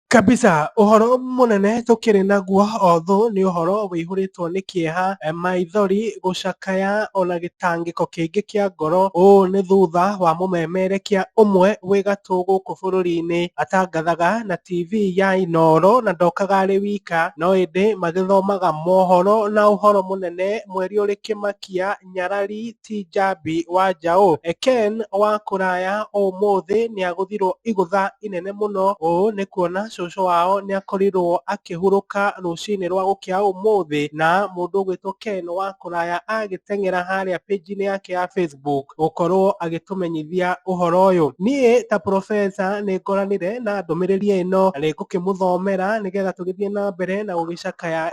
Kabisa, ũhoro mũnene tũkĩrĩ naguo othũ nĩ ũhoro wĩihũrĩtwo nĩ kĩeha, eh, maithori gũcakaya ona gĩtangĩko kĩngĩ kĩa ngoro. Ũũ nĩ thutha wa mũmemerekia ũmwe wĩ gatũ gũkũ bũrũri-inĩ atangathaga na TV ya Inooro na ndokaga arĩ wika no ĩndĩ magĩthomaga mohoro na ũhoro mũnene mweri ũrĩ kĩmakia nyarari ti njambi wa njaũ. Ken wa kũraya ũmũthĩ nĩagũthirwo igũtha inene mũno ũũ nĩ kuona cũcũ wao nĩakorirwo akĩhurũka rũcinĩ rwa gũkĩa ũmũthĩ na mũndũ ũgwĩtwo Ken wa kũraya agĩteng'era harĩa page inĩ yake ya Facebook gũkorwo agĩtũmenyithia ũhoro ũyũ. Niĩ ta professor nĩngoranire na ndũmĩrĩri ĩno na nĩngũkĩmũthomera nĩgetha tũgĩthiĩ na mbere na gũgĩcakaya.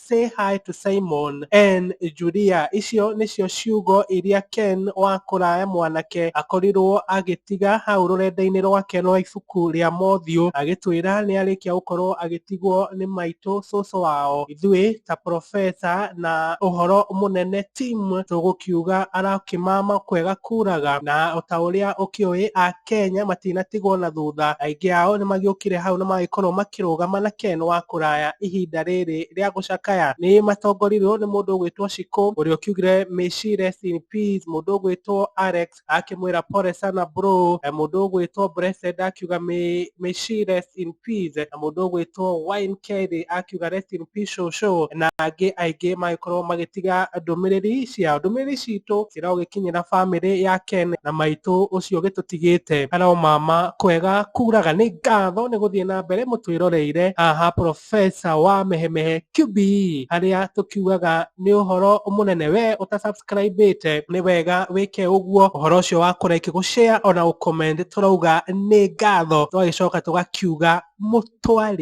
Say Hi to Simon, en, Julia. Icio nĩcio ciugo iria Ken wa kũraya mwanake akorirũo agĩtiga hau rũrenda-inĩ rwake rwa ibuku rĩa mothiũ, agĩtwĩra nĩ arĩkia gũkorũo agĩtigwo nĩ maitũ cũcũ wao. Ithuĩ, ta profesa na ũhoro mũnene Tim, tũgũkiuga arakĩmama kwega kuraga, na o ta ũrĩa ũkĩũĩ, a Kenya matinatigwo na thutha, aingĩ ao nĩ magĩũkire hau na magĩkorwo makĩrũgama na Ken wa kũraya ihinda rĩrĩ rĩa gũcakaya. Nĩ matongorirwo nĩ mũndũ ũgwĩtwo Shiko ũrĩa ũkiugire May she rest in peace, mũndũ ũgwĩtwo Alex akĩmwĩra pole sana bro, mũndũ ũgwĩtwo Blessed akiuga May she rest in peace, na mũndũ ũgwĩtwo Wine Kelly akiuga rest in Official Show na angĩ aingĩ magĩkorwo magĩtiga ndũmĩrĩri ciao. Ndũmĩrĩri citũ ciĩragwo gĩkinyĩra bamĩrĩ ya Ken na maitũ ũcio ũgĩtũtigĩte. Hello mama, kwega kuraga. Nĩ ngatho nĩ gũthiĩ na mbere mũtwĩroreire haha Professor wa Mehemehe QBE harĩa tũkiugaga nĩ ũhoro mũnene. We ũta subscribĩte nĩ wega wĩke ũguo. Ũhoro ũcio wa kũ like, gũ share ona gũ comment tũrauga nĩ ngatho tũgagĩcoka tũgakiuga mũtwarĩre.